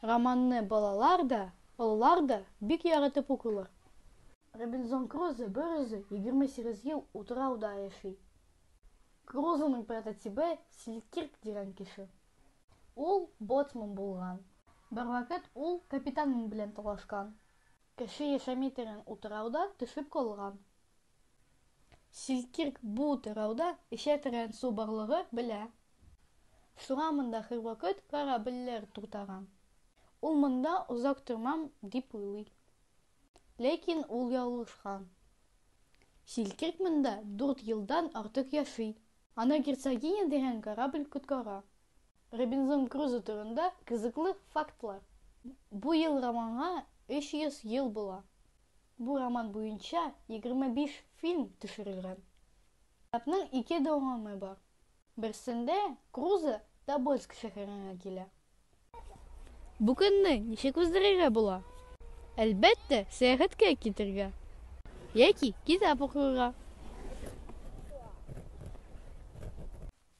Романны балалар да, олылар да бик яратып укыйлар. Робинзон Крузо берүзе 28 ел утрауда яши. Крузоның прототибы Селькирк дигән кеше. Ул боцман булган. Бервакыт ул капитанын белән талашкан. Кеше яшәми торган утрауда төшеп калган. Силкирк бу тырауда эчә торган су барлыгы белә. Суга монда һәрвакыт корабльләр туктаган. Ул монда озак тормам дип уйлый. Ләкин ул ялгышкан. Силкирк монда дүрт елдан артык яши. Аны Герцогиня дигән корабль коткара. Робинзон Крузо турында кызыклы фактлар. Бу ел романга 300 ел була. Бу роман буенча 25 фильм төшерелгән. Китапның ике дәвамы бар. Берсендә Крузо Тобольск шәһәренә килә. Бу көнне ничек уздырырга була? Әлбәттә, сәяхәткә китәргә яки китап укырга.